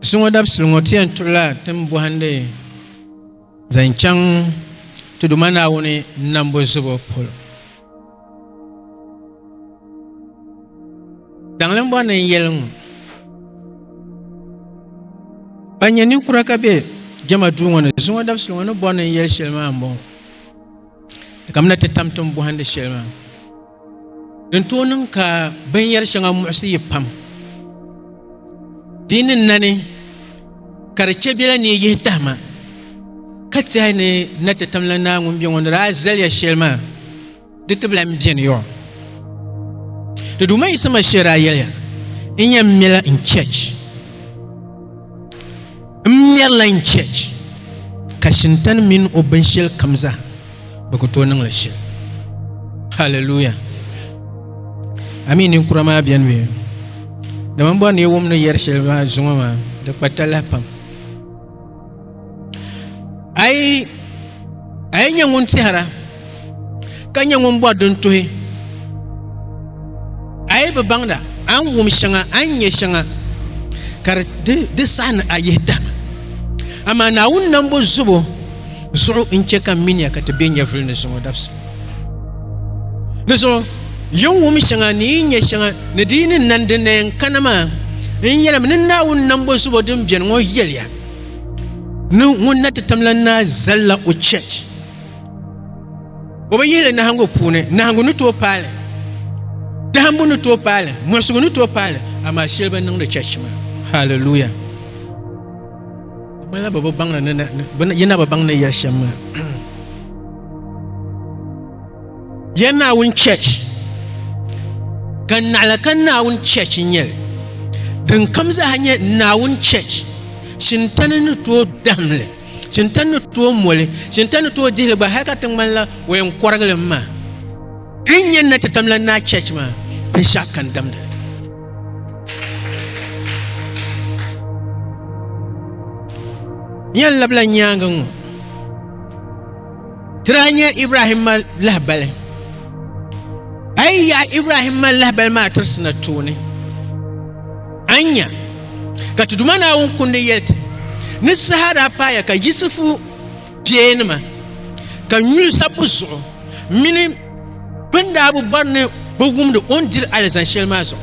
Zuŋɔ dabisili ŋɔ ti yɛn tuɣila tin bɔhindi zaŋ chaŋ ti Duuma Naawuni nambu zubu polo. Daŋlim bɔri ni n yɛli ŋɔ, ban nyɛ ninkura ka be jɛma duu ŋɔ ni zuŋɔ dabisili ŋɔ ni bɔri ni n yɛli shɛli maa m-bɔŋɔ, kamina ti tam tin bɔhindi shɛli maa. Din tooi niŋ ka binyɛri shɛŋa muɣisi yi pam di ni nani ka di chɛ biɛla ni yi yihi tahima ka tɛhi ni na ti tamla naa ŋun bɛ ŋɔ ni daa zaliya shɛli maa di ti bi lan beni yɔɔ. Di Duuma Yisa Mashia daa yɛliya, N yɛn mɛla n chɛch. N mɛrila n chɛch ka Shintani mini o binshɛlikam zaa bɛ ku tooi niŋli shili haleluya amii ninkura maa bɛni bɛ dama n bɔri ni yi wum ni yɛri shɛli maa zuŋɔ maa di kpa talahi pam a yi a yi nyɛ ŋun tɛhira ka nyɛ ŋun bɔri din tuhi a yi bi baŋda a ni wum shɛŋa a ni nyɛ shɛŋa ka di saɣi ni a yihi tahima amaa naawuni nambo zubo zuɣu n chɛ ka miniya ka ti be nyɛvuli ni zuŋɔ dabisi. Di zuɣu, yi ni wum shɛŋa ni yi ni nyɛ shɛŋa ni di yi ni nani din na yɛn kana maa, n yɛlim ni Naawuni nambo zubo din beni ŋɔ yɛliya ni ŋun na ti tamla naa zali la o chɛch, o bi yihi li nahiŋgu puuni, nahiŋgu ni tooi paai li, dahimbu ni tooi paai li, muɣisigu ni tooi paai li, amaa shɛli bi niŋdi chɛch maa. Hallelujah! ya naawuni chɛch ka naɣila ka naawuni chɛch n nyɛli din kam zaaha nyɛ naawuni chɛch shintani ni tooi dahimli shintani ni tooi moli shintani ni tooi dihili gba hali ka ti ŋmanila o yɛn kɔrigili maa din yɛn na ti tamla naa chɛch maa binshɛɣu kan damdili Yan labila nyaangi ŋɔ ti daa nya Ibrahimma lahibali. A yi yaɣi Ibrahimma lahibali maa tirisina tooni, a ni nya ka ti Duuma Naawuni kundi yɛli ti ni saha daa paaya ka Yisifu kpeenima ka nyuli sabbu zuɣu mini bɛ ni daa bi bɔri ni bɛ wumdi o ni diri alizani shɛli maa zuɣu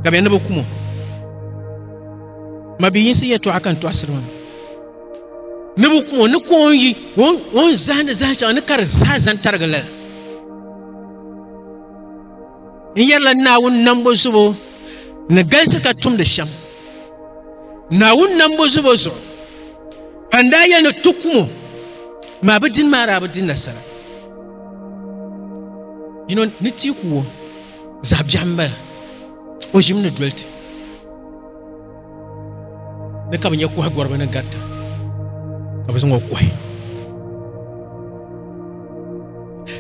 ka bɛ ni bi kum o mabiyinsi yɛtɔɣa ka n tɔɣisiri ŋɔ ni bi kum o ni ka o yi o ni zahindi zahin shɛŋa ni ka di zaa zaŋ tarigi lala n yɛrila naawuni nambo zubo ni galisi ka tumdi shɛm naawuni nambo zubo zuɣu ka n daa yɛli ni ti kum o maa bi dini maa daa bi di nasara You know, ni tia ku wo zaɣ biɛɣu n bala o ʒimi ni doli ti ni ka bi nyɛ koha gɔriba ni garita ka bi zaŋ o kohi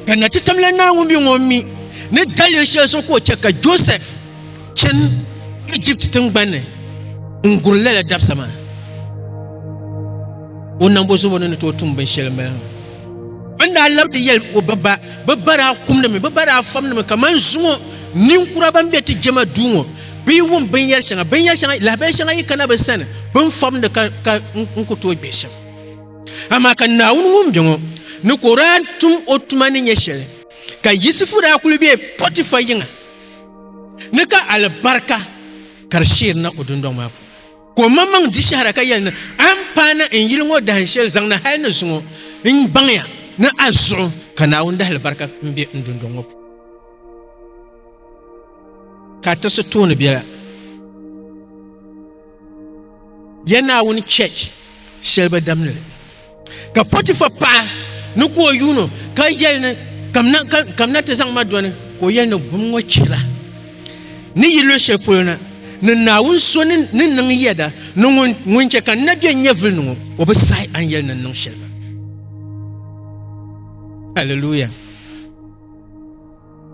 ka na ti tamla naawuni bi ŋɔ mi ni daliri shɛli zuɣu ka o chɛ ka joseph chɛn egypt tingbanni n guri lala dabisa maa o nambo zuɣu ni ni tooi tum binshɛli n bala maa Bin daa labdi yɛli o ba ba, bɛ ba daa kumdimi, bɛ ba daa fɔmdimi kaman zuŋɔ ninkura ban be ti jɛma duu ŋɔ bɛ yi wum binyɛr shɛŋa, binyɛr shɛŋa, lahabaya shɛŋa yi kana bɛ sani bɛ ni fɔmdi ka, ka n ku tooi gbihi shɛm. Amaa ka Naawuni ŋun be ŋɔ ni ka o daa tum o tuma ni nyɛ shɛli, ka Yisifu daa kul be Pɔtifa yiŋa ni ka alibarika ka di sheerina o dundɔŋ maa puuni. Ka o maŋmaŋ di shɛhira ka yɛli ni, A ni paai na n yili ŋɔ dahin shɛli zaŋ na hal ni zuŋɔ, n baŋya ni a zuɣu ka Naawuni dahilibarika m-be n dundɔŋ ŋɔ puuni. Ka a tirisi tooni biɛla. Ya Naawuni Church shɛli ba damli ni. Ka Potifa paɣa ni ka o yuun ka yɛli ni kamina ti zaŋ ma dɔni ka o yɛli ni bum ŋɔ chihira ni yi luɣi shɛli polo na ni Naawuni so ni niŋ yɛda ni ŋun chɛ ka n na bɛ nyɛvili ni ŋɔ o bi sahi a ni yɛli ni n niŋ shɛli maa. Hallelujah.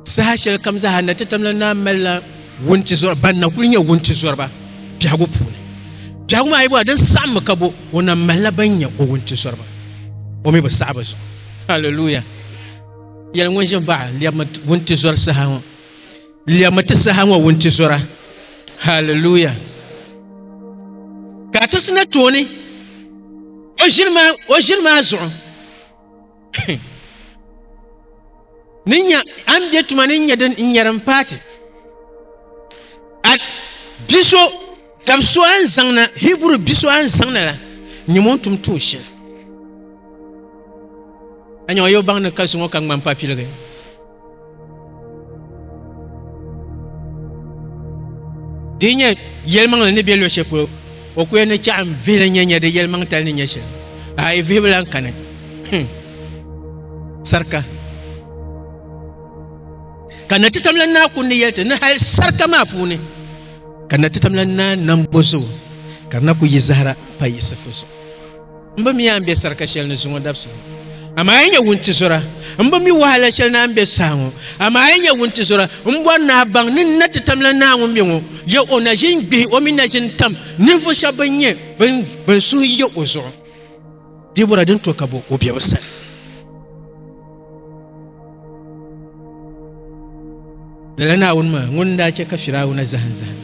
Saha shɛli kam zaa na titam la naa malila wuntizɔri ban na kuli nyɛ wuntizɔriba biɛhigu puuni. Biɛhigu maa yi bɔra din saɣimmi ka bo, o na malila ban nyɛ o wuntizɔriba. O mi bi saɣi bɛ zuɣu. Hallelujah! Yɛli ŋun ʒin baɣa lɛbimi wuntizɔri saha ŋɔ. Lɛbimi ti saha ŋɔ wuntizɔra. Hallelujah! Ka a ti sina tooni o ʒini maa zuɣu ni nya a ni bɛ tuma ni nyɛ din n nyɛri n paati a bia so tab so a ni zaŋ na hiburu bia so a ni zaŋ na la nyɛ ŋun tum tuun shɛli a nya o yɛ baŋ ni ka zuŋo ka ŋmani papiligi di nyɛ yɛlimaŋli ni bɛ luɣu shɛli polo o ku yɛn ni chɛɣu n vihili nyɛ nyɛ di yɛlimaŋ tali ni nyɛ shɛli a yi vihibu lan kani sarika ka na ti tamla naa ku ni yɛli ti ni hali sarika maa puuni ka na ti tamla naa nambo zuɣu ka na ku yi zahara pa yiɣisifu zuɣu M bi mi a ni be sarika shɛli ni zuŋɔ dabisili, amaa a yi nyɛ wuntizɔra. M bi mi wahala shɛli ni a ni be saha ŋɔ, amaa a yi nyɛ wuntizɔra. M bɔri ni a baŋ ni n na ti tam la naa ŋun mi ŋɔ, je o na ʒin gbihi o mi na ʒin tam ninvuɣ shɛb bɛn nyɛ bɛn suhu yi o zuɣu. Dibɔra din to ka bo o biɛbu sani. lala naawuni maa ŋun daa chɛ ka firawuna zahim zahim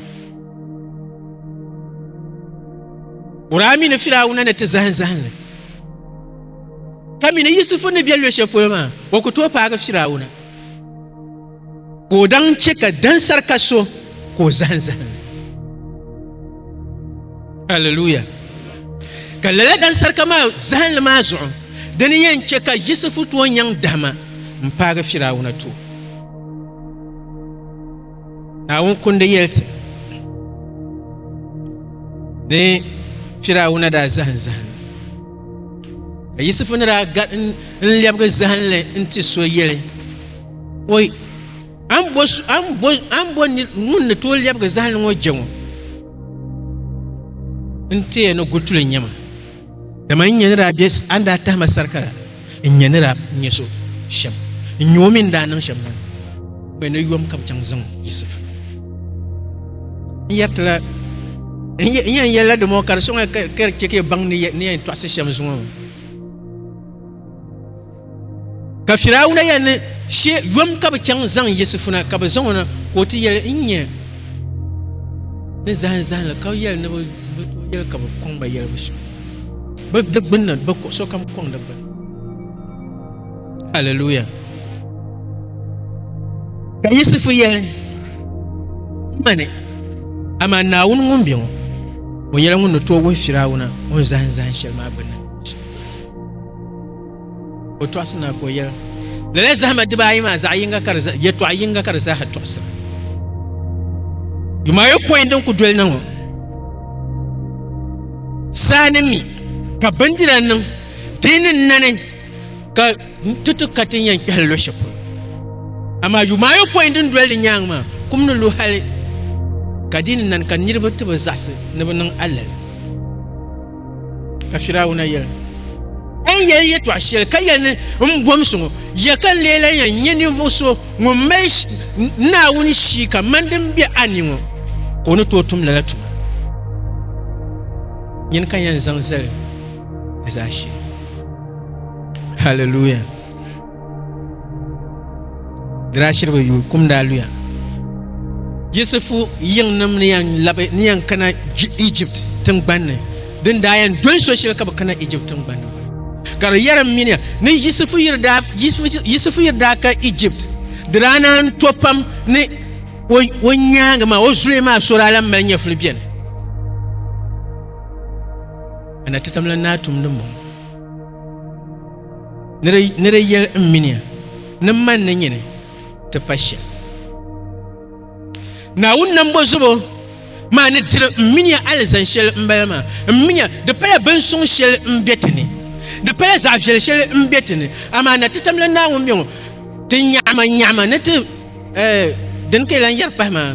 kuraa mi ni firawuna ni ti zahim zahinli ka mi ni yusufu ni bɛ luɣ shɛli polo maa o ku tooi paagi firawuna ka o daŋ chɛ ka dansarika so ka o zahim zahim aleluya ka lala dansarika maa zahinli maa zuɣu dini yɛn chɛ ka yisifu tooi nyaŋ dahima n paagi firawuna to naawuni kundi yɛli ti ni firawuna daa zahim zahim ka yisifu ni daa n lɛbigi zahinli n ti so yɛli Oi, a ni bo ŋun ni tooi lɛbigi zahali ŋɔ je ŋɔ? N teya ni gutuli n-nyɛ ma, dama n-nya ni daa be a ni daa tahi ma sarika la, n-nya ni daa nyɛ so shɛm, n-nya o mi ni daa niŋ shɛm maa. Oi ni yom ka bɛ chaŋ zaŋ Yisif. N yɛriti la, n yɛn yɛli la dama ka di sɔŋ ya ka di chɛ ka ya baŋ ni yɛn tɔɣisi shɛm zuŋɔ maa. Ka Firawuna yɛli ni, She yom ka bɛ chaŋ zaŋ Yisifuna ka bɛ zaŋ o na, ka o ti yɛli, N nya ni zahim zahim la, ka yɛli ni bɛ tooi yɛli ka bɛ kɔŋ ba yɛli bɛ suhu bɛ di gbini na, bɛ kuɣ sokam kɔŋ di gbini. Hallelujah. Ka Yisifu yɛli, Mani, amaa Naawuni ŋun be ŋɔ, o nyɛla ŋun ni tooi wuhi Firawuna o ni zahim zahim shɛli maa gbinni. O tɔɣisi na ka o yɛli, Lala zahima dibaa ayi maa zaɣ yinga ka di za, yɛtɔɣ yinga ka di zaaha tɔɣisira. Yumayɔpɔin din ku doli na ŋɔ, saa ni mi ka bindira niŋ ti ni nani ka ti ti ka ti yɛn kpɛhili luɣ shɛli polo. Amaa yumayɔpɔin din doli di nyaaŋa maa kum ni lu hali ka di ni nani ka niriba ti bi zaɣisi ni bɛ niŋ alali. Ka Firawuna yɛli, A ni yɛli yɛtɔɣ shɛli ka yɛli ni m bɔmsi ŋɔ, ya ka n lee lan yɛn nyɛ ninvuɣ so ŋun mali Naawuni shii kaman din be a ni ŋɔ, ka o ni tooi tum lala tuma? Nyini ka n yɛn zaŋ zali di zaashee. Haliluya! Diraashiriba yuui kum daa luya. Yisifu yiŋnim ni yan labi ni yan kana Egypt tingbanni din daa yan doli so shɛli ka bi kana Egypt tingbanni ka di yɛrim miniya ni Yisifu yiri daa Yisifu yiri daa ka Egypt di daa naan to pam ni o nyaangi maa o zuliya maa so daa lan mali nyɛfuli bɛni ana titamla naa tumdi mɔŋɔ ni di yɛli n miniya ni man ni nyini ti pa shɛm naawuni nambo zubo maa ni diri n miniya alizan shɛli n bala maa n minya di pala bin suŋ shɛli n bɛ ti ni di pala zaɣ viɛli shɛli n bɛ ti ni amaa na ti tam la naawuni bɛ ŋɔ ti nyaɣama nyaɣama ni ti din ka yi lan yɛri pahi maa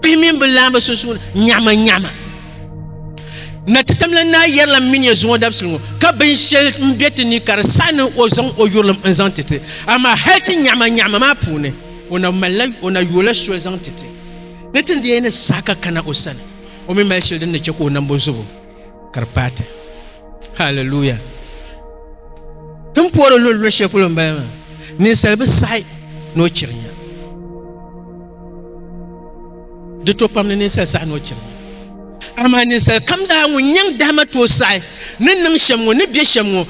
bihi mini bi laamba sunsuuni nyɛhima nyɛhima na ti tamla naa yɛrila mini ya zuŋɔ dabisili ŋɔ ka binshɛli n bɛ ti ni ka di saɣi ni o zaŋ o yurilim n zaŋ titi amaa hali ti nyɛhima nyɛhima maa puuni o na malila o na yoola soli zaŋ titi ni ti ni yɛn ni saɣi ka kana o sani o mi mali shɛli din ni chɛ ka o nambo zubu ka di paai ti haleluya din puori lolo shɛli polo n bala maa ninsal bi saɣi ni o chiri nya di to pam ni ninsal saɣi ni o chiri nya amaa ninsal kam zaa ŋun nyɛŋ dahama tooi saɣi ni niŋ shɛm ŋo ni bɛ shɛm ŋo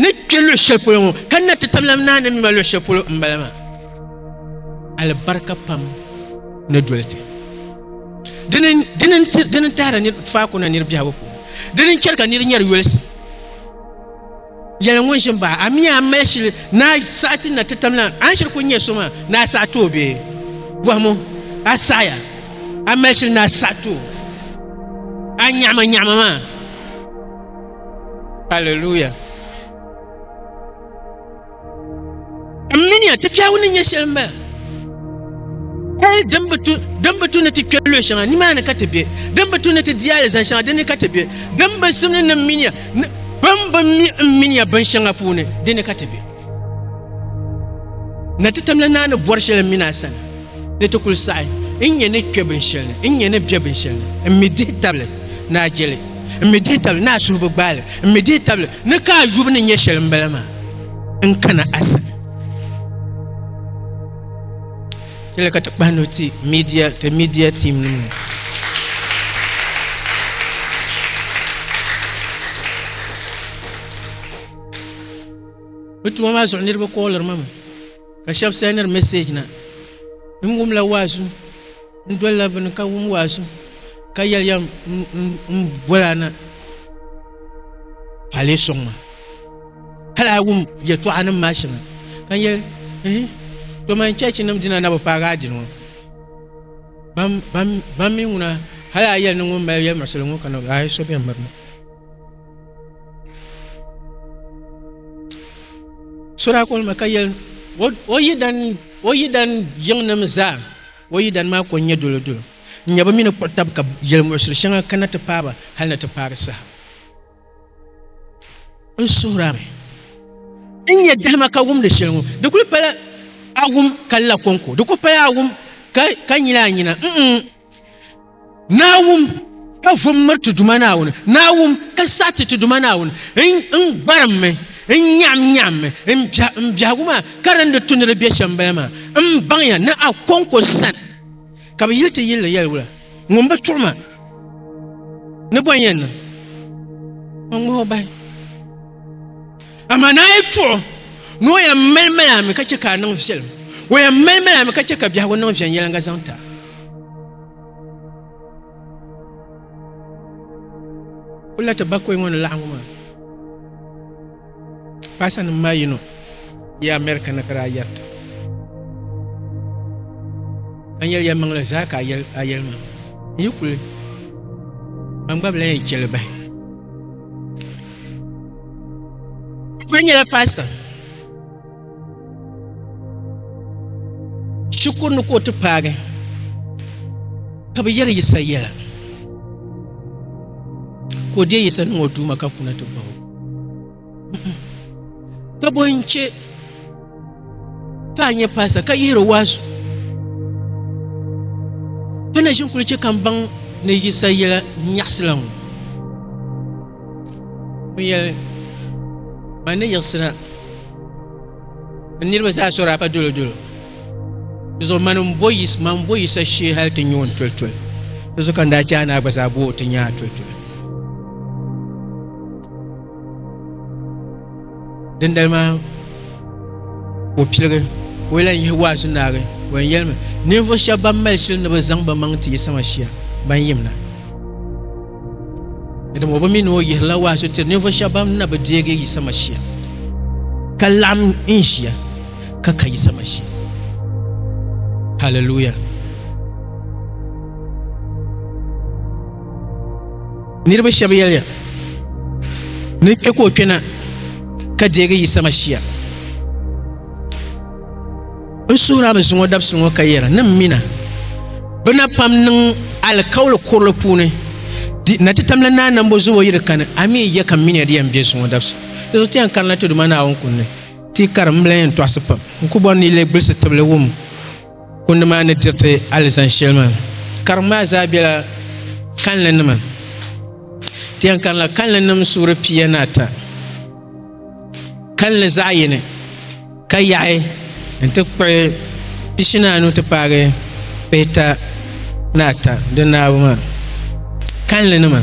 ni kpɛ luɣu shɛli polo ŋo ka na ti tamlam naa ni mima luɣu shɛli polo n bala maa alibarika pam ni doli ti dini n tahari faaku na niri biɛhagu puuni dini n chɛri ka niri nyɛri yolisi yɛli ŋun ʒin baɣa a mi a mali shili na saɣa ti na ti tam la a ni shiri ku nyɛ so maa ni a saɣa too bee bɔhimo a saɣaya a mali shili ni a saɣa too a nyaɣama nyaɣama maa hallelujah N minia ti kpɛagu ni nyɛ shɛli m-bala. Hal din bi tu, din bi tu ni ti kpe luɣ shɛŋa, nimaani ka ti be. Din bi tu ni ti di alizan shɛŋa, di ni ka ti be. Din bi simdi ni m minia, ni bɛn bi mi m minia bin shɛŋa puuni, di ni ka ti be. Na ti tamla naa ni bɔri shɛli m-min a sani, ni ti kul saɣi n nya ni kpe binshɛli ni, n nya ni bɛ binshɛli ni. M mi dihi tabili ni a jeli, m mi dihi tabili ni a suhu bi gbaali, m mi dihi tabili ni ka a yubu ni nyɛ shɛli m-bala maa. n kana a sani tila ka ti kpahi ni ti media ti media team nim ni bi tuma maa zuɣu niraba kooliri ma mi ka shab sɛniri mɛsɛj na n wumla waazu N dolila bini ka wum waazu ka yɛliya m bola na ka a lee sɔŋ ma hali a wum yɛtɔɣa nim maa shɛŋa ka n yɛli ehi to man chɛchi nim dina na bi paagi a dini ŋɔ ban mi ŋuna hali a yɛli ni ŋun mali yɛlimaɣisili ŋɔ kana a yi so bɛn miri ma so daa kɔli ma ka yɛli o yidana yiŋ nim zaa O yidana maa ko n-nyɛ dolodolo, n-nyɛ bɛ mi ni kpuɣi tab ka yɛlimuɣisiri shɛŋa kana ti paai ba hal ni ti paai di saha. N suhir a mi n-nyɛ dahima ka wumdi shɛli ŋɔ, di kul pala a wum ka la kɔŋko, di kul pala a wum ka nyil a nyina, mm-mm. Naawum ka vum miri ti Duuma Naawuni, Naawum ka sariti ti Duuma Naawuni. N gbarimmi, n nyaɣimnyaɣimmi n biɛhigu maa ka di ni di tu ni di be shɛm bala maa. M baŋya ni a kɔŋko sani ka bɛ yili ti yili ni yɛliwula. Ŋun bi tuɣi ma ni bɔ n-yɛn niŋ, o ŋmahi o bahi. Amaa ni a yi tuɣi o ni o yɛn malimali a mi ka chɛ ka a niŋ viɛlim, o yɛn malimali a mi ka chɛ ka biɛhigu niŋ viɛnyɛliŋga zaŋ ti a. Kula ti bakoi ŋɔ ni laɣingu maa paasa nim maa yino yi America na ka daa yɛrita ka yɛli ya maŋli zaa ka a yɛli a yɛli maa n yi kuli man gba bilan yi chɛli bahi kuli nyɛla paasita shikuru ni ka o ti paagi ka bi yɛri yisa yɛla ka o deei yisa niŋ o duuma ka kuna ti gbabu ka bo n chɛ ka a nyɛ paasa ka yihiri o waazu ka na ʒin kuli chɛ ka n baŋ ni yisa yɛla nyaɣasila ŋɔ n yɛli ma ni yiɣisira N niriba zaa sɔra ka dolo dolo. Di zuɣu mani n bo yis man bo yisa shee hali ti nyoon toli toli. Di zuɣu ka n daa chaai naa gba zaa bo ti nyaa toli toli. Dindali maa o piligi o yɛla n yihi waazu naagi o yɛn yɛlimi ninvuɣu shɛba ban mali shili ni bi zaŋ bi maŋ ti yisa ma shia ban yimna. Di ŋɔ bi mi ni o yihirila waa so tiri ninvuɣu shɛba ban na bi deegi Yisa Mashia ka laɣim n ʒiya ka ka Yisa Mashia. Haleluya. Niriba shɛba yɛliya ni kpɛ ka o kpɛna ka deegi Yisa Mashia. N suhirami zuŋɔ dabisi ŋɔ ka yɛra ni m mina bɛ na pam niŋ alikauli kurili puuni di na ti tamla naa nambo zubo yiri kani a mi yɛ ka m minia di yɛn bɛ zuŋɔ dabisi di zuɣu ti yɛn karina ti duma naawuni kundi ti kari m lahi yɛn tɔɣisi pam n ku bɔri ni yi leei gbilisi tibili wum kundi maa ni diriti alizan shɛli maa karim maa zaa bɛla kanli nima ti yɛn karila kanli nim suhuri pia ni ata kalinli zaɣ yini ka yaɣi n ti kpuɣi pishini anu ti paagi pihita ni ata di naabu maa kalinli nima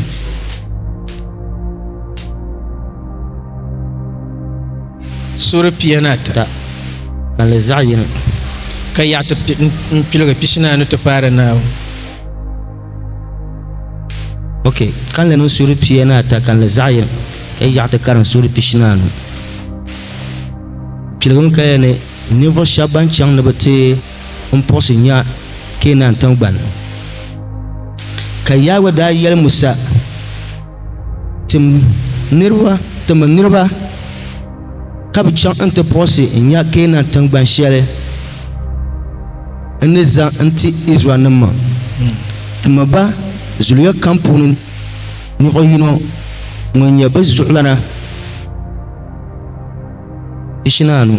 suuri pia ni ata kalinli zaɣ yini ka yaɣi n piligi pishini anu ti paari naabu ok kanli niŋ suhuri pia ni ata kanli zaɣ yini ka yi yaɣa ti karim suhuri pishi ni anu piligim kaya ni ninvuɣu shab ban chɛŋ ni bi ti n puɣusi nya keenan tingbani ka yaagba daa yɛli musa tim niraba timi niraba ka bi chaŋ n ti puɣusi n nya Keenan tiŋgban shɛli n ni zaŋ n ti Izraɛlnim maa. Ti mi ba zuliya kam puuni ninvuɣ yino ŋun nyɛ bɛ zuɣulana pishinaanu.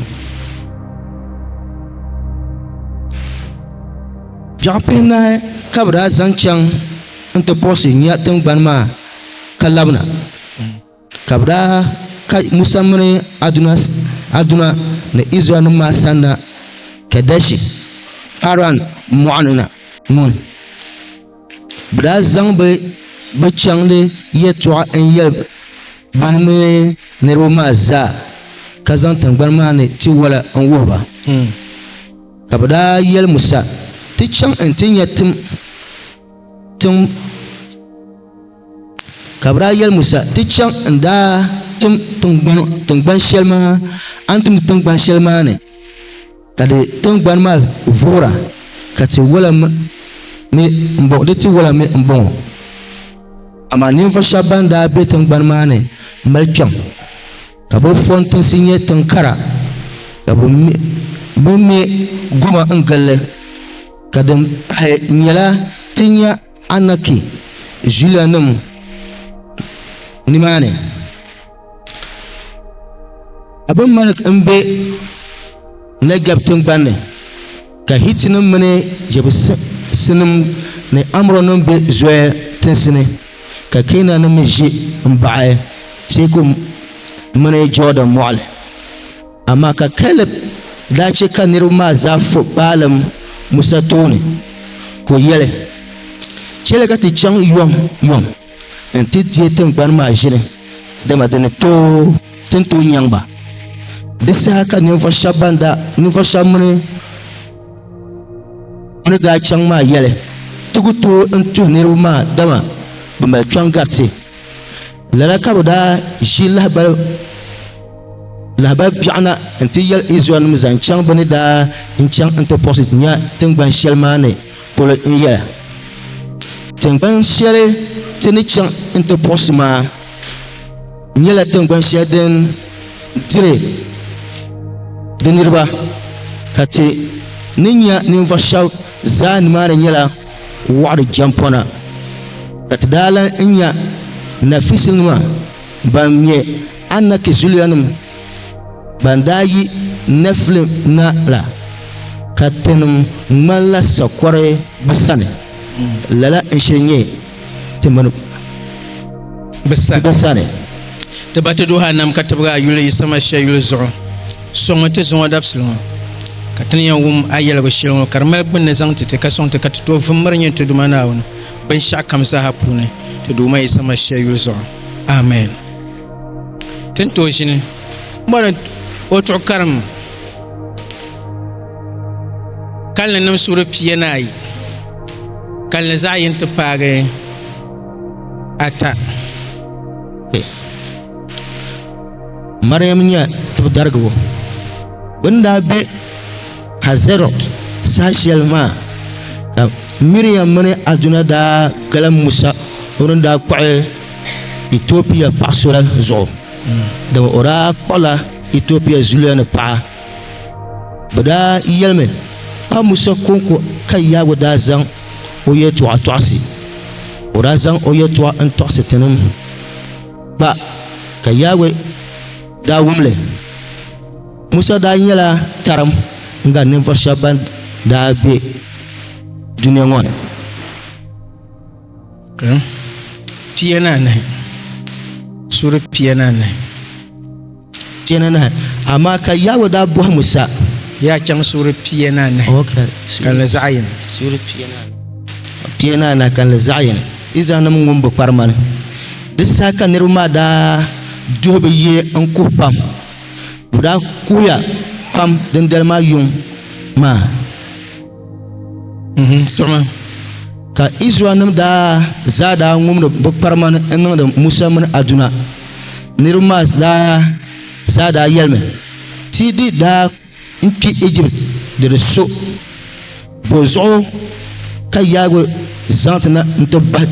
Biɛɣ pihinahi ka bɛ daa zaŋ chaŋ n ti puɣusi nya tiŋgbani maa ka labina. Ka bɛ daa ka Musa mini Haruna ni Izraɛlnim maa sanna Kɛdɛshi, Paran mɔɣuni na. Ŋun? Bɛ daa zaŋ ba bɛ chaŋdi yɛtɔɣa n-yɛli ba ni mini niriba maa zaa, ka zaŋ tiŋgbani maa ni tiwala n-wuhi ba. Ka bɛ daa yɛli Musa, Ti chaŋ nti nya tiŋ. Ka bɛ daa yɛli Musa, Ti chaŋ n-daa tim tiŋgbani shɛli maa, a ni timdi tiŋgbani shɛli maa ni, ka di tiŋgbani maa vuhira, ka tiwala mi m-bɔŋɔ, di tiwala mi m-bɔŋɔ. Amaa ninvuɣ shɛba bɛn daa be tiŋgbani maa ni mali kpiɔŋ, ka bɛ fɔntinsi nyɛ tiŋ kara, ka bɛ me goma n-gil li, ka din pahi nyɛla ti nya. Anaki zuliya nim nimaani Abimelek n bɛ Nɛgɛb tingbanni ka Hitinim mini Jɛbusinim ni Amɔrinim be Zoya tinsi ni, ka Keenannim mi ʒi m-baɣi teeku mini Jɔɔdan Mɔɣili. Amaa ka Kɛlib daa chɛ ka niriba maa zaa fo baalim Musa tooni, ka o yɛli, Chɛli ka ti chaŋ yom yom nti deei tiŋgbani maa ʒili, dama di ni tooi ti ntooi nyaŋ ba. Di saha ka ninvuɣ shɛb mini o ni daa chaŋ maa yɛli, Ti ku tooi n-tuhi niriba maa dama bɛ mali kpiɔŋ gariti. Lala ka bi daa ʒi lahabali lahabali biɛɣu na n ti yɛli Izraɛl nim zaŋ chaŋ bɛ ni daa n chaŋ n ti puɣisi nya tiŋgban shɛli maa ni polo n yɛla, Tiŋgban shɛli ti ni chaŋ n ti puɣisi maa nyɛla tiŋgban shɛli din diri di niriba, ka ti ni nya ninvuɣ shɛb zaa nimaani nyɛla wɔɣiri jɛmpɔna ka ti daa lan nya Nafisinima ban ŋme Anaki zuliyanim ban daa yi Nɛfilim na la, ka tinim ŋmanila sakɔre bɛ sani. Lala n-shiri nyɛ ti mini bɛ sani. Ti ba ti duhi a nam ka tibigi a yuli yi sama shee yuli zuɣu. Sɔŋ mi ti zuŋɔ dabisili ŋɔ, ka ti ni yɛn wum a yɛligu shɛli ŋɔ ka di mali gbunni zaŋ ti ti, ka sɔŋ ti ka ti tooi vum miri nyin ti Duuma Naawuni binshɛɣu kam zaaha puuni ti Duuma yi sama shee yuli zuɣu. Amen. Ti ni tooi ʒini mɔri o tuɣikarim Kalinli nim suhuri pia ni ayi kalinli zaɣ yini ti paagi ata mariam nyɛ tibi darigibo bi ni daa bɛ hazɛrɔt saha shɛli maa ka miriam mini aduna daa galim musa o ni daa kpuɣi itiopia paɣa so la zuɣu dama o daa kpuɣila etiopia zuliya ni paɣa bi daa yɛlimi pa musa konko ka yaago daa zaŋ o yɛltɔɣa tɔɣisi o daa zaŋ o yɛltɔɣa n tɔɣisi tinim gba ka yaago daa wumli musa daa nyɛla tarim n gari ninvuɣu shɛba ban daa be dunia ŋɔ ni pia ni anahi suri pia ni anahi pia ni anahi amaa ka yaawɛ daa bɔhi musa yaa chaŋ suri pia ni anahi kanli zaɣ yini suri pia ni anahi pia ni anahi kanli zaɣ yini izrael nim ŋun bi kpari mani di saha ka niraba maa daa duhi bi yi n kuhi pam bi daa kuhiya pam dindali maa yuŋ maa tuɣumi ka Israel nim daa zaa daa ŋumdi bi kparima ni n niŋdi Musa mini Aduna niriba maa daa zaa daa yɛlimi ti di daa n kpi Egypt di di so bo zuɣu ka yaagi zaŋ ti na n ti bahi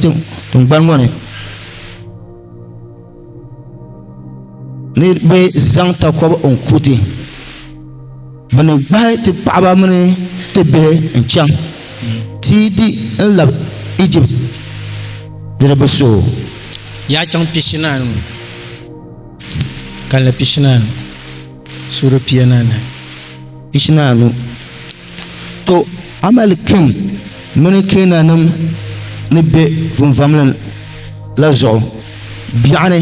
tingbani ŋɔ ni ni bɛ zaŋ takɔbi n kuti bɛ ni gbahi ti paɣaba mini ti bihi n chaŋ ti di n labi Egypt niriba so yaa chaŋ pishi naanu kanli pishi naanu Suura piana ni ishinan anu To Amalikim mini Keenannim ni be vunvamlin la zuɣu biɛɣ ni,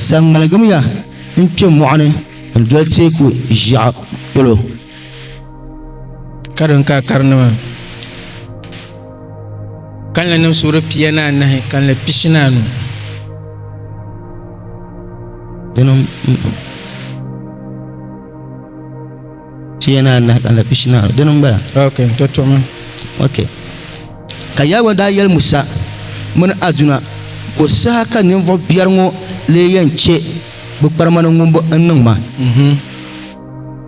sa ŋmaligimiya n-kpe mɔɣu ni n-doli teeku ʒiɛɣu polo. karim ka karinima kanli nim suhuri pia ni anahi kanli pishi ni anu dini pia ni anahi kanli pishi ni anu dini n bala ok n to tuɣumi ok ka yawɛ daa yɛli musa mini aduna ko saha ka ninvuɣu biɛri ŋɔ lee yɛn chɛ bi kparimani ŋun bo n niŋ ma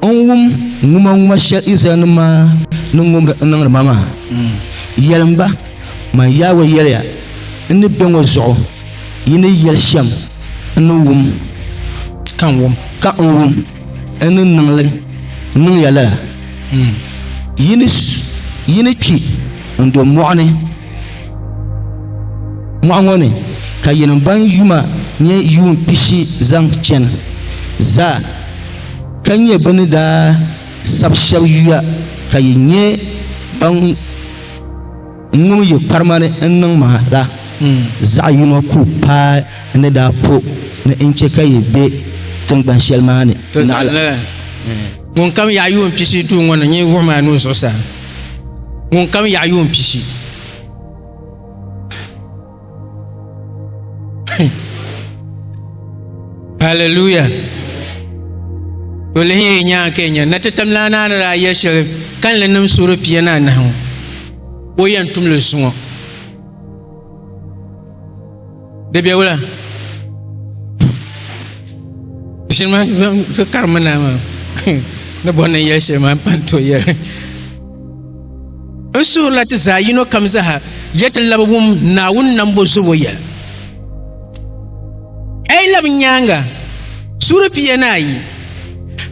N wum ŋumaŋuma shɛli Izraɛlnim maa ni ŋubiri n-niŋdi ma maa. Yɛlim ba, Man Yawɛ yɛliya, N ni be ŋɔ zuɣu yi ni yɛli shɛm n ni wum ka n wum n ni niŋ li niŋ ya lala, yi ni kpi n-do mɔɣu ni. Mɔɣu ŋɔ ni ka yinim ban yuma nyɛ yuun pishi zaŋ chani zaa, ka nyɛ bɛ ni daa sabi shɛb yuya ka yi nyɛ ban ŋum yi kparima ni n-niŋ ma la, zaɣ yino ku paai ni daa po ni n chɛ ka yi be tiŋgban shɛli maa ni naɣila. Ŋunkam yaɣi yuun pishi duu ŋɔ ni nyɛ wuɣim a nuu zuɣusaa. ŋun kam yaɣa yuun pishi haleluya o lihi yi nyaanga ka nya na ti tam la naa ni daa yɛ shɛli kanli nim suhuri pia ni anahi ŋɔ o yɛn tumli zuŋɔ Di bɛ wula shini maa ti karimi naa maa ni bɔri ni yɛli shɛli maa n pan to yɛli n suhurila ti zaa yino kam zaha yɛ ti labi wum naawuni nambo zubo yɛli a yi labi nyaanga suhuri piya ni ayi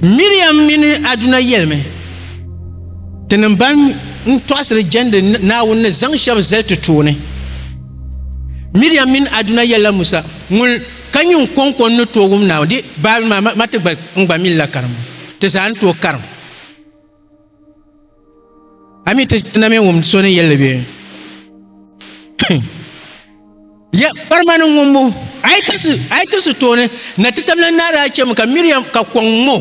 miriam mini aduna yɛlimi ti ni ban n tɔɣasiri jɛndi naawuni ni zaŋ shɛba zali ti tooni Miriam mini Aduna yɛlila Musa ŋun ka nyɛ ŋun kɔŋko n ni tooi wum Naawuni di Baabuli maa ma ma ti gba n gba mini la karimbu ti zaa ni tooi karim. A mi ti ti na mi wum so ni yɛlli bɛ? Ya kparima ni ŋumbu a yi tirisi a yi tirisi tooni na ti tamla n naara chɛmi ka Miriam ka kɔŋ ŋo.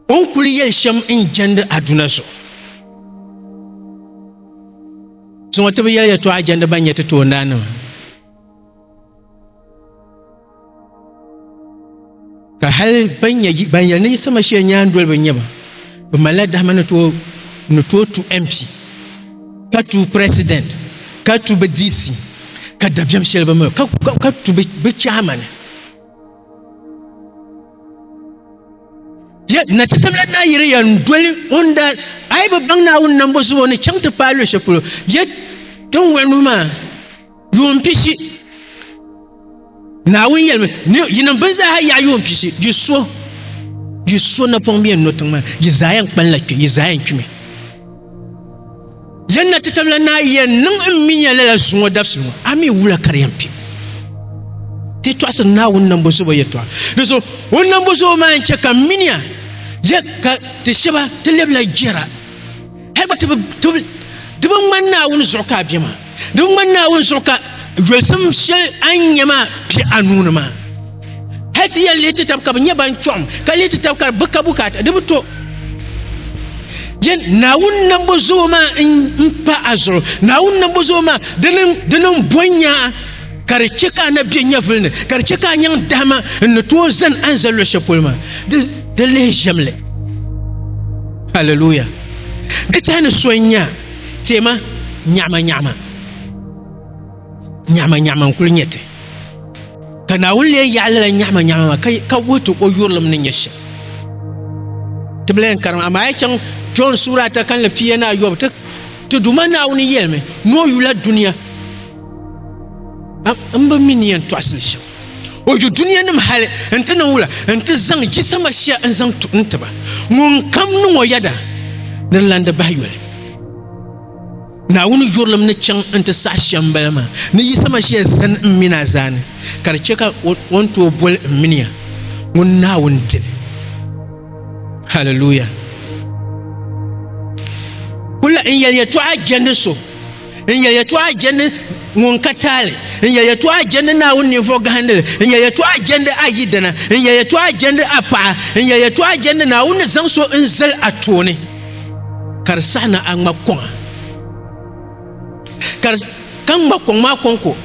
O ni kuli yɛli shɛm n-jɛndi aduna zuɣu zuŋɔ ti bi yɛli yɛtɔɣa jɛndi ban nyɛ ti toondaannima ka hali ban nyɛ ban yɛli ni Yisa Mashia nyaandoliba n-nyɛ ba bɛ malila dahima ni tooi tu MP ka tu president ka tu bɛ DC ka dabiɛm shɛli bɛ mi ka tu bɛ chairman na ti tamla naa yiri ya n doli ŋun da a yi bi baŋ naawuni nambo zuɣu ni chaŋ ti paai luɣushɛli polo ya tin wuɣi nuhi maa yuun pishi naawuni yɛlimi yi niŋ bin zaaha yaɣa yuun pishi yi so yi so napɔŋ bɛ yɛn no tiŋ maa yi zaa yɛn kpaŋla kpɛ yi zaa yɛn kpimi Yɛn na ti tamla naa yɛn niŋ n mi nya lala zuŋɔ dabisi ŋɔ, a mi wula ka di yɛn kpi. Ti tɔɣisiri Naawuni nambo zobo yɛtɔɣa. Di zuɣu o nambo zobo maa n-chɛ ka minia ya ka ti shɛba ti lɛbila jɛra. Hal gba ti bi ŋmani Naawuni zuɣu ka a be maa. di ŋmani naawuni zuɣu ka yolisim shɛli a ni nyɛ maa bɛ a nuuni maa hali ti yɛn lihi ti tab ka bi nyɛ ban chɔɣam ka lihi ti tab ka bi ka bukaata di bi to yɛn naawuni nambo zuɣu maa n pa a zuɣu naawuni nambo zuɣu maa di niŋ bɔn nyaa ka di chɛ ka a na bɛ nyɛvuli ni ka di chɛ ka a nyaŋ dahama n ni tooi zani a ni za luɣu shɛli polo maa di lihi ʒɛmli haleluya di tiɛhi ni so n nya Tema nyaɣima nyaɣima nyaɣima nyaɣima n-kuli nyɛ ti. Ka Naawuni lee yaɣi lala nyaɣima nyaɣima maa ka wuhi ti o yurilim ni nyɛ shɛm. Ti bi lahi karim, amaa a yi chaŋ Jɔn suura ata kalinli pia ni ayɔbu, ti Duuma Naawuni yɛlimi ni o yula dunia m-bi mi ni yɛn tɔɣisi li shɛm. o yu dunia nim hali n ti niŋ wula n ti zaŋ Yisa Masia n zaŋ tu n tiba ŋun kam niŋ o yɛda ni di lan di bahi yoli naawuni yurilim ni chaŋ n ti saɣi shɛm n bala maa ni Yisa Masia zani n mini a zaa ni ka di chɛ ka o ni tooi boli n mini ya ŋun naawuni dili haleluya kula n yɛli yɛtɔɣa jɛndi so n yɛ yɛtɔɣa jɛndi ŋun ka taali n yɛ yɛtɔɣa jɛndi naawuni ninvuɣu gahandili n yɛ yɛtɔɣa jɛndi a yidana n yɛ yɛtɔɣa jɛndi a paɣa n yɛ yɛtɔɣa jɛndi naawuni ni zaŋ so n zali a tooni ka di saɣi ni a ŋma kɔŋa ka ka ŋma kɔŋ maa kɔŋko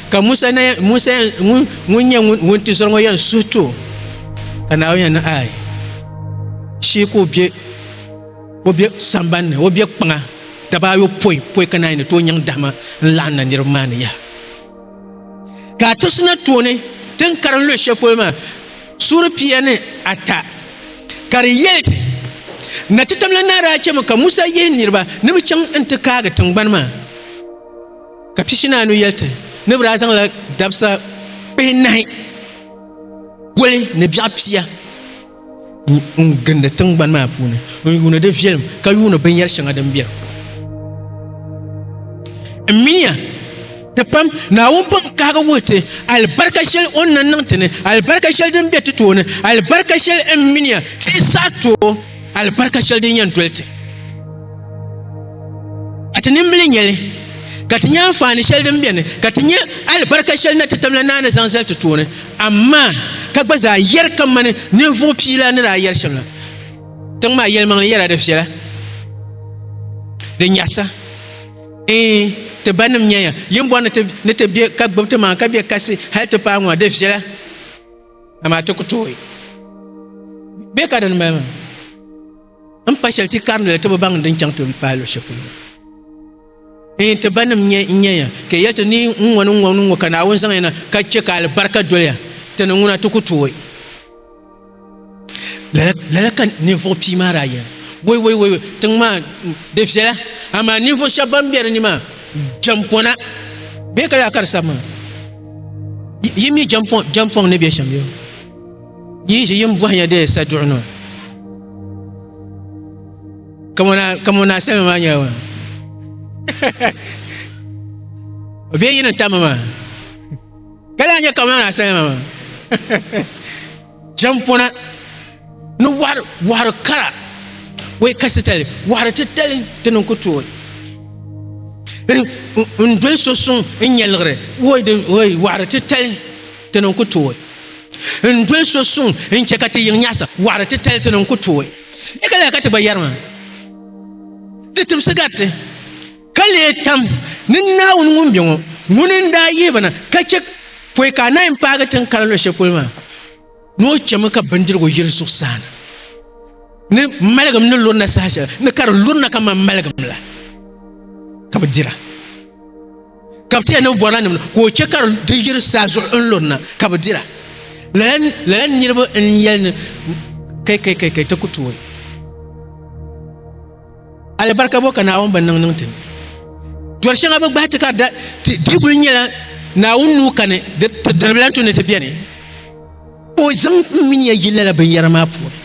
ka musa musa ŋun nyɛ ŋun ti zɔri ŋɔ yɛn suhi to ka naawuni yɛn ni ayi shee ka o bɛ O be samban ni, o be kpaŋa daba ayopɔi pɔi ka naai ni tooi nyaŋ dahima n-laɣim na niriba maa ni yaha. Ka a ti sina tooni ti ni karim luɣi shɛli polo maa, suuri pia ni ata, ka di yɛli ti, Na ti tamla naa daa chɛmi ka Musa yihi niriba ni bɛ chaŋ n-ti kaagi tiŋgbani maa. Ka piishinaanu yɛli ti ni bɛ daa zaŋla dabisa kpihinahi goli ni biɛɣ pia. n gindi tingbani maa puuni n yuuni di viɛlim ka yuuni binyɛri shɛŋa din bɛ di puuni n miya ti pam naawuni pun kaagi wuhi ti alibarika shɛli o ni na niŋ ti ni alibarika shɛli din bɛ ti tooni alibarika shɛli n miya ti yi saɣa tooi alibarika shɛli din yɛn doli ti ka ti nimbili nyɛli ka ti nyɛ anfaani shɛli din biɛni ka ti nyɛ alibarika shɛli na ti tamla naa ni zaŋ zali ti tooni amaa ka gba zaa yɛri ka mani ninvuɣu piila ni daa yɛri shɛm la tiŋ maa yɛlimaŋli yɛra di viɛla di nyɛhisa ee ti ba nim nyɛya yin bɔri ni ti bɛ ka gbubi ti maa ka bɛ kasi hali ti paai ŋɔ di viɛla amaa ti ku tooi bɛ ka din mali maa n pa shɛli ti karili ti bi baŋ din chaŋ ti paai luɣu shɛli polo in ti ba nim nyɛ n nyɛ ya ka yɛli ti ni n ŋɔ ni ŋɔ ni ŋɔ ka naawuni zaŋ ya na ka chɛ ka alibarika doliya ti ni ŋuna ti ku tooi lala ka ninvuɣu pii maa daa yɛli woi woi woi tiŋ maa di viɛla amaa ninvuɣu shɛba ban bɛ di ni maa jɛm pɔna bee ka daa ka di sabi maa yi mi jɛm pɔŋ ni bɛ shɛm yo Yi ʒi yim bɔhinya di saduɣu ni ka mo naa salima maa nyɛla o bee yi ni tam maa ka lahi nyɛ ka mo naa salima maa jɛmpɔna ni wɔhiri wɔhiri kara wai kasi tali wɔhiri titali ti niŋ ku tooi n doli so suŋ n nyɛliɣiri woi wɔhiri titali Ti ni ku tooi n doli so suŋ n chɛ ka ti yiŋ nyaɣisi wɔɣiri titali ti ni n ku tooi ni ka lahi ka ti gba yɛri maa. Di tibisi gari ti ka lee tam ni Naawuni ŋun be ŋɔ, ŋuni n-daa yihi ba na ka chɛ pɔi ka anahi m-paagi tin kara luɣ shɛli polo maa ni o chɛmi ka bindirigu yiri zuɣusaa na ni maligim ni lurina saha shɛli ni ka di lurina kaman maligim la ka bɛ dira. ka bi tiɛ ni bɔna nim ka o chɛ ka di yiri saa zuɣu n lurina ka bi dira lala niraba n yɛli ni kai kai kai kai ti ku tooi alibarika bɔ ka naawuni bi niŋ niŋ ti ni dɔri shɛŋa bi gbahi ti ka di kuli nyɛla naawuni nuu kani ti diribila tu ni ti biɛni ka o zaŋ n mini ya yi lala binyɛra maa puuni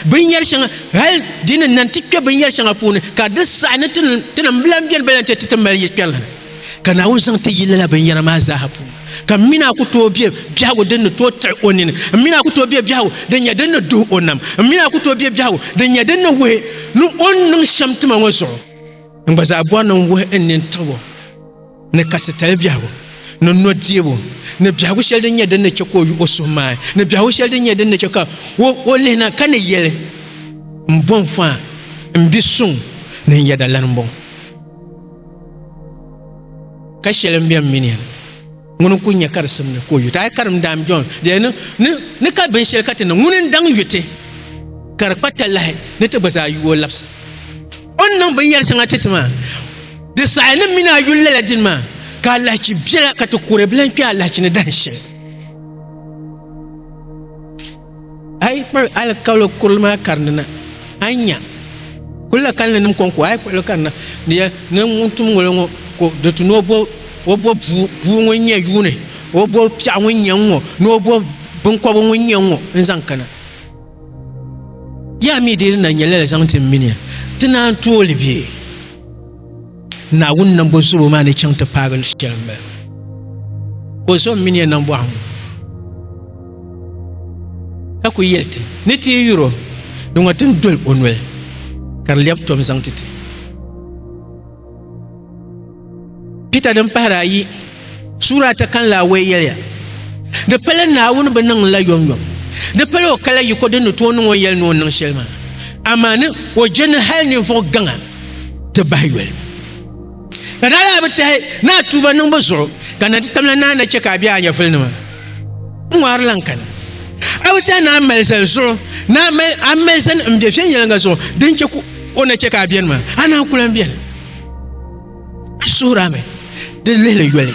binyɛri shɛŋa hali di ni nan ti kpɛ binyɛri shɛŋa puuni ka di saɣi ni tinim bilan biɛni bilan ti ti mali yi kpɛrili ni ka naawuni zaŋ ti yi lala binyɛra maa zaaha puuni ka m mina ku tooi bɛ biɛhigu din ni tooi tiɣi o nini m mina ku tooi bɛ biɛhigu din nyɛ din ni duhi o nam m mina ku tooi bɛ biɛhigu din nyɛ din ni wuhi ni o ni niŋ shɛm tima ŋɔ zuɣu n gba zaa bɔri ni n wuhi n nini tiɣibo ni kasi tali biɛhigu ni nɔdiɛbu ni biɛhigu shɛli din nyɛ din ni chɛ ka o yi o suhu maa ni biɛhigu shɛli din nyɛ din ni chɛ ka o lihina ka ni yɛli n bɔn faa n bi suŋ ni n yɛda lani bɔŋ ka shɛli n bɛn mini yɛli ŋuni n ku nyɛ ka di simdi ka o yuti a karim daam jɔn dɛni ni ka binshɛli ka ti niŋ ŋuni n daŋ yuti ka di kpa talahi ni ti gba zaa yuo labisa O ni niŋ binyɛri shɛŋa ti ti maa, di saɣi ni mini a yuli lala dini maa, ka alahichi biɛla ka ti kuri bilan kpe alahichi ni dahin shɛli. A yi kpuɣi alikauli kurili maa karindi na, a ni nya kulila kalinli nim kɔŋko, a yi kpuɣi li karina ni ya ni ŋun tum ŋolo ŋɔ ko di tu ni o bo o bo buu buu ŋun nya yuuni, o bo piɛɣu ŋun nya n ŋɔ ni o bo binkɔbigu ŋun nya n ŋɔ n zaŋ kana. yaa mi dee ni na nyɛla la zaŋ ti m mini ti naan tooli bɛ Naawuni nambo zubo maa ni chaŋ ti paagi lu shɛli m bala ka o zo m mini ya nambɔɣu ŋɔ ka ku yɛli ti ni ti yi yuri o di ŋɔ ti ni doli o noli ka di lɛbi tom zaŋ ti ti Pita din pahiri ayi suura ata kan laawei yɛliya, Di pala Naawuni bi niŋ la yomyom, di pala o kala yiko din ni tooi niŋ o yɛli ni o niŋ shɛli maa, amaa ni o je ni hal ninvuɣ gaŋa ti bahi yoli. Ka daa daa bi tɛhi ni a tuuba niŋbu zuɣu, ka na ti tamla ni a na chɛ ka a be a nyɛvulinima ŋɔri lan kani. A bi tɛhi ni a mali zali zuɣu, ni a mali zani m-be viɛnyɛliŋga zuɣu din chɛ ka O ni chɛ ka a beni maa, a naan ku lan beni. A suhir a mi di lihili yoli,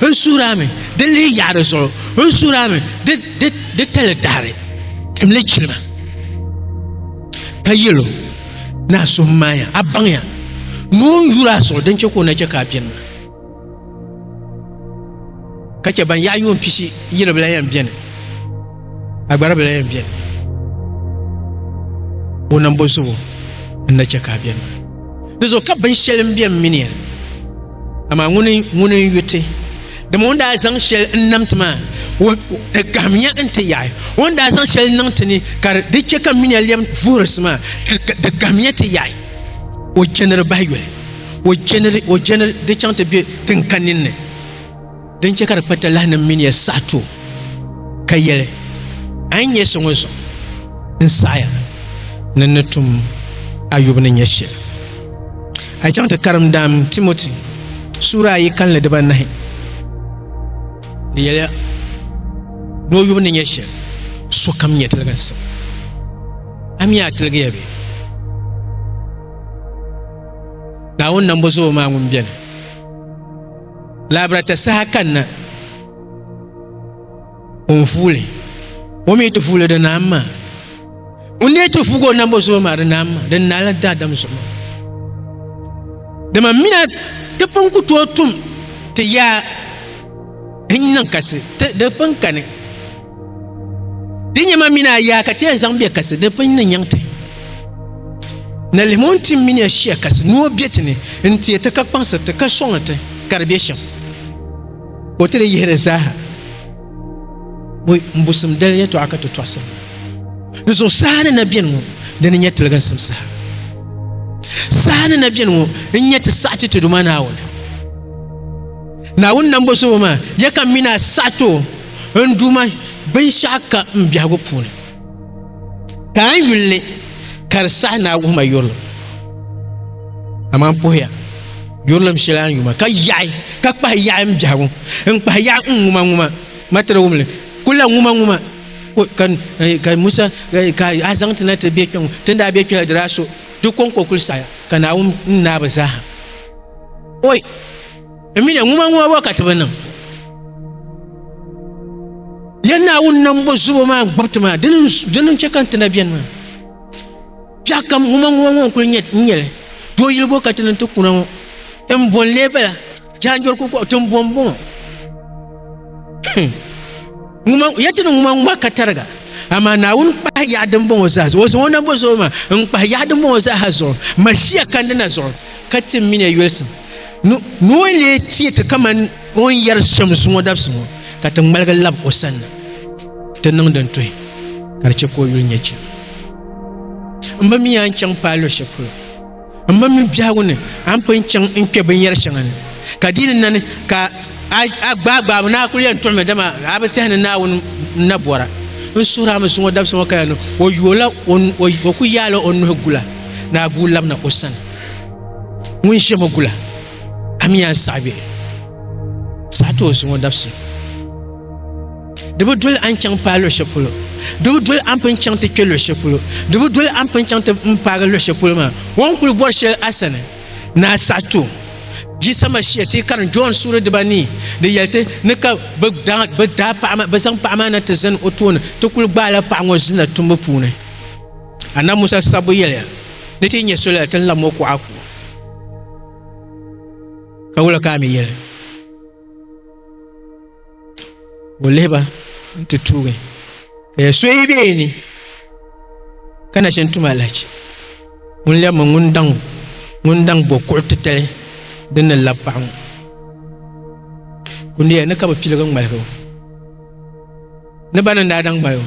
n suhir a mi di lihi yaɣiri zuɣu, n suhir a mi di tali daɣiri dimli jilima, ka yɛl o, Naa suhimmaaya, a baŋya ni o ni yur a zuɣu din chɛ ka o ni chɛ ka a beni maa. ka chɛ ban yaɣa yuun pishi yili bila yɛn biɛni agbari bila yɛn biɛni o nambo zuɣu n na chɛ ka a biɛni maa di zuɣu ka binshɛli n biɛni mini ya amaa ŋuni ŋuni n yu ti dama o ni daa zaŋ shɛli n nam ti maa di gahimiya n ti yaɣi o ni daa zaŋ shɛli niŋ ti ni ka di chɛ ka mini ya lɛm vuhirisi maa di gahimiya ti yaɣi o chɛniri bahi yoli o jɛniri o jɛniri di chaŋ ti be tin ka ninni din chɛ ka di kpa talahi ni mini ya saɣi tuo ka yɛli a yi nyɛ so ŋɔ zuɣu n saɣiya ni ni tum Ayub ni nyɛ shɛli a yi chaŋ ti karim daam Timoti suura ayi kalinli dibanahi di yɛliya ni o yubu ni nyɛ shɛli sokam nyɛ tiliginsim a mi a tiligiya bee naawuni nambo zuɣu maa ŋun bɛni laabirata saha kanna ŋun fuuli o mi ti fuuli di naam maa ŋun ne ti fuugi o nambo zuɣu maa di naam maa di naala daadam zuɣu maa dama mina ti pun ku tooi tum ti yaa n niŋ kasi di pun kani Di nyɛma mini a yaa ka ti yɛn zaŋ bɛ kasi di pun ni nyaŋ ti. Na lihimi o ni tim mini ya shia kasi ni o bɛ ti ni n-teei ti ka kpaŋsiri ti ka sɔŋ ti ka di bɛ shɛm. O ti di yihiri zaaha bo m-busim dali yɛtɔɣa ka ti tɔɣisiri ŋɔ. Di zuɣu saha ni na beni ŋɔ di ni nyɛ tiliginsim saha. Saha ni na beni ŋɔ n-nyɛ ti saɣi ti Tiduma Naawuni. Naawuni Nambozobo maa, ya ka m mini a saɣi ti o. n Duuma binshɛɣu ka n biɛhigu puuni, ka a yuli ni ka di saɣi ni a wuhi ma yurilim. Amaa n puhiya yurilim shɛli a ni yu ma ka yaɣi ka kpahi yaɣi m biɛhigu n kpahi yaɣi n ŋumaŋuma ma ti di wum li kul la ŋumaŋuma ka Musa ka a zaŋ ti na ti be kpɛŋɔ ti ni daa be kpɛla di daa so di kɔŋko kul saɣiya ka Naawuni n naai ba zaaha. Emile ŋuma ŋuma bɔ ka ti bi niŋ ya naawuni nambo zubo maa n gbubi ti maa dini n chɛ ka n ti na biɛni maa biɛɣ kam ŋuma ŋuma ŋɔ n kuli nyɛli doo yili bɔ ka ti niŋ ti kuna ŋɔ n bɔn lee bala jaanjɔri kukɔɣu ti n bɔn bɔŋɔ ŋuma ya ti ni ŋuma ŋuma ka tariga amaa naawuni kpahi yaɣa din bɔŋɔ zaa zuɣu o zaŋ o nambo zuɣu maa n kpahi yaɣa din bɔŋɔ zaa ha zuɣu masiya kandi na zuɣu ka ti mini ya yolisim Ni o ni lee teei ti kamani o ni yɛri shɛm zuŋɔ dabisi ŋɔ, ka ti ŋmaligi lab o sanna, ti niŋ din tuhi ka di chɛ ka o yuli nya chɛli. M ba mi a ni chaŋ paai luɣ shɛli polo, m ma mi biɛhigu ni a ni pun chaŋ n-kpe binyɛr shɛŋa ni, ka di ni na ni ka a gbaagbaabu ni a kul yɛn tuɣi mi, dama a bi tɛhi ni Naawuni n-na bɔra. N suhir a mi zuŋɔ dabisi ŋɔ ka ya ni o yooi la, o ku yaai la o nuhi gu la, ni a guui labina o sani. ŋun ʒe ma gula a mi yɛn saɣi bɛ saɣi ti o zuŋɔ dabisi di bi doli a ni chaŋ paai luɣ shɛli polo di bi doli a ni pun chaŋ ti kpe luɣ shɛli polo di bi doli a ni pun chaŋ ti n paagi luɣ shɛli polo maa o ni kuli bɔri shɛli a sani ni a saɣi ti o Jisa Mashia ti yi karin John suuri dibanii di yɛli ti ni ka bɛ daa bɛ daa paɣa maa bɛ zaŋ paɣa maa na ti zani o tooni ti kuli gbaala paɣa ŋɔ zinla tumbu puuni Anab Musa sabbu yɛliya ni ti yi nyɛ soli la ti ni labi ŋɔ kuɣa puuni. Ka wula ka a mi yɛli? Ka o lihi ba nti tuugi, ka ya so yi be yi ni ka na shini tum alahichi, ŋun lɛbi mi ŋun daŋ ŋun daŋ bo kuɣ titali din ni labi paɣa ŋɔ. Kundiya ni ka bɛ piligi ŋmaligi o, ni ba ni ni daa daŋ mali o.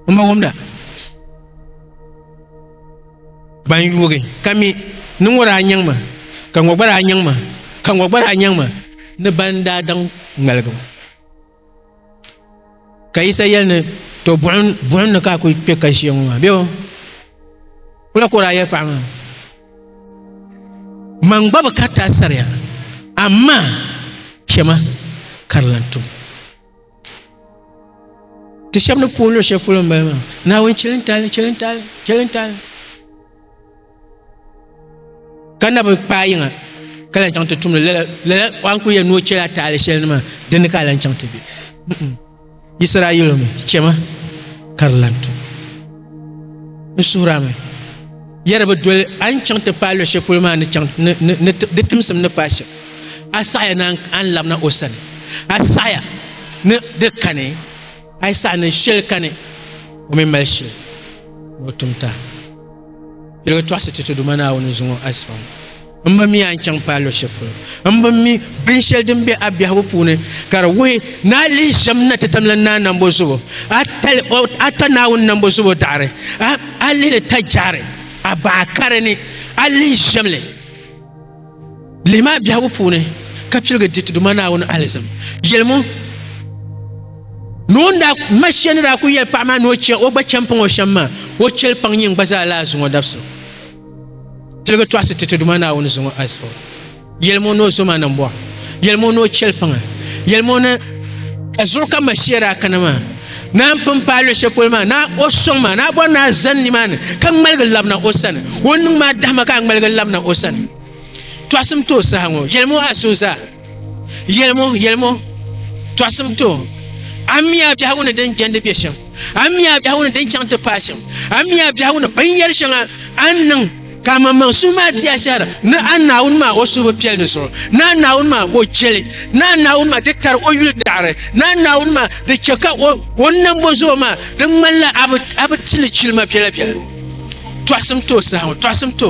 O ma wumda ban yuugi ka mi ni ŋɔ daa nyaŋ ma ka ŋɔ gba daa nyaŋ ma ka ŋɔ gba daa nyaŋ ma ni ban daa daŋ ŋmaligi ma ka Yisa yɛli ni to buɣim ni ka a ku kpe ka ʒiya ŋɔ maa bee o kula ka o daa yɛli paɣa maa man gba bi kariti a sariya amaa chɛma ka di lan tum ti shɛba ni puhi luɣ shɛli polo m-bala maa naawuni chilintali chilintali chilintali ka na bi paai yiŋa ka lan chaŋ ti tumdi lala lala an kuli yɛli ni o chɛla taali shɛli ni maa dini ka a lan chaŋ ti be Yisirayɛlimi chɛma ka di lan tu n suhurami yɛri bi doli a ni chaŋ ti paai luɣu shɛli polo maa ni chaŋ ni di timsim ni paai shɛm a saɣaya ni a ni labina o sani a saɣaya ni di kani a yi saɣa ni shɛli kani o mi mali shili ni o tumta yɛligi tɔɣisi ti ti duma naawuni zuŋɔ asibaŋ n ba mi a ni chaŋ paai luɣ shɛli polo. M bi mi binshɛli din be a biɛhigu puuni ka di wuhi ni a lihi ʒiɛm na ti tam la Naa Nambo Zubo, a tali o, a ta Naawuni Nambo Zubo daɣiri, a, a lihi li ta jɛhiri a baɣa kari ni, a lihi ʒiɛm li. Lihi ma a biɛhigu puuni ka piligi di ti Duuma Naawuni alizim. Yɛlim o ni o ni daa, ma shia ni daa kul yɛli paɣ maa ni o chɛ o gba chɛmpaŋ o shɛm maa, o chɛli paŋ nyin gba zaa lahi zuŋɔ dabisili. tiligi tɔɣisi ti ti Duuma Naawuni zuŋɔ ayisɔ yɛlim o ni o zoma niŋ bɔha yɛlim o ni o chɛli paŋa yɛlim o ni ka zuɣu ka Mashia daa kana maa naa n-pun paai luɣ shɛli polo maa naa o sɔŋ maa naa bɔri naa zani nimaani ka ŋmaligi labina o sani o niŋ maa dahima ka a ŋmaligi labina o sani tɔɣisim ti o saha ŋɔ yɛlim o ayisɔ zaa Yelimo, yelimo, tɔɣisim to, a mi a biɛhigu ni din jɛndi bɛ shɛm, a mi a biɛhigu ni din chaŋ ti paai shɛm, a mi a biɛhigu ni binyɛri shɛŋa a ni niŋ ka a maŋmaŋ suhu maa di a shɛhira ni a Naawuni maa o suhu bi piɛli di zuɣu, ni a Naawuni maa o jeli, ni a Naawuni maa di tari o yuli daɣiri, ni a Naawuni maa di chɛ ka o nambo zuɣu maa di ŋmanila a bi ti li jilima biɛla biɛla. Tɔɣisim to saha ŋɔ, tɔɣisim to.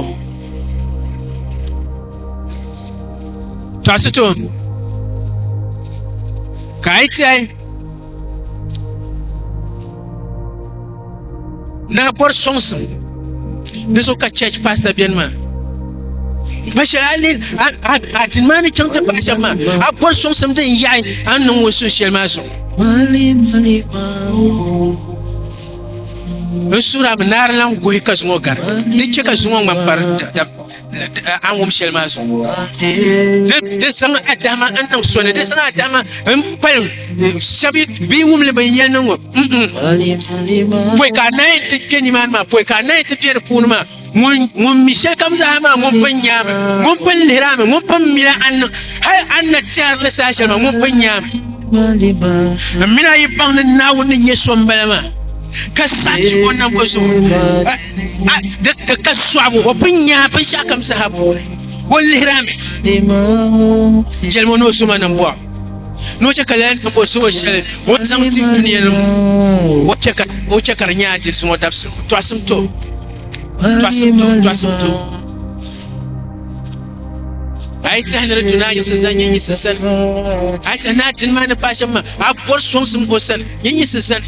tɔɣisi ti o nuu ka a yi tɛhi ni a bɔri sɔŋsim di zuɣu ka church pastor beni maa pa shɛli a ni a dini maa ni chaŋ ti pahi shɛba maa a bɔri sɔŋsim din yaɣi a ni niŋ ŋun suhu shɛli maa zuɣu n suhirami naarilan gohi ka zuŋɔ gari di chɛ ka zuŋɔ ŋmani pari an wum shɛli maa zuɣu ni di zaŋ adama n niŋ so ni di zaŋ adama n kpalim shɛbi bee wumli bin yɛn niŋ ŋɔ pɔi ka anahi ti kpɛ nimaani maa pɔi ka anahi ti bɛ di puuni maa ŋun mi shɛli kam zaa maa ŋun pun nyaami ŋun pun lihirami ŋun pun mila an niŋ hali an na tɛri ni saa shɛli maa ŋun pun nyaami n mina yi baŋ ni naawuni ni nyɛ so n bala maa ka sachi o nam o zuɣu di ka sɔɣibu o pun nya binshɛɣu kam saha puuni o lihira mi jɛlimi ni o suma ni bɔɣu ni o chɛ ka lala niŋ o suhu shɛli o ni zaŋ ti dunia ni o chɛ ka o chɛ ka di nyɛ adilsi ŋɔ dabsim tɔɣisim to tɔɣisim to tɔɣisim to a yi tahi ni di tu ni a yiɣisi zani nyɛ yiɣisi sani a yi tahi ni a dini maa ni paai shɛm maa a bɔri sɔŋsim o sani nyɛ yiɣisi zani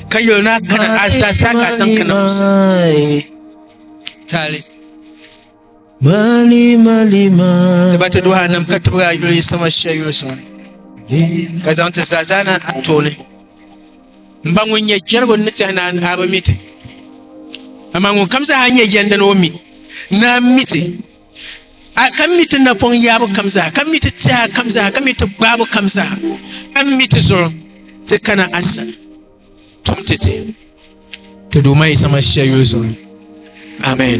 ka yuli na kana a sa sa ka san kana musa tali mali mali ma ta ba ta duha nan ka ta ba yuli sama shi yuli sama ka zan ta zaza na a tole n ba ŋun nyɛ jɛrigu ni tɛhi na a bi miti amaa ŋun kam zaa nyɛ yɛndi ni o mi na miti ka mi ti napɔŋ yaabu kam zaa ka mi ti tɛha kam zaa ka mi ti gbaabu kam zaa ka mi ti zuɣu ti kana a sani tum ti ti ti duuma yi sama shia yuli zuɣu amen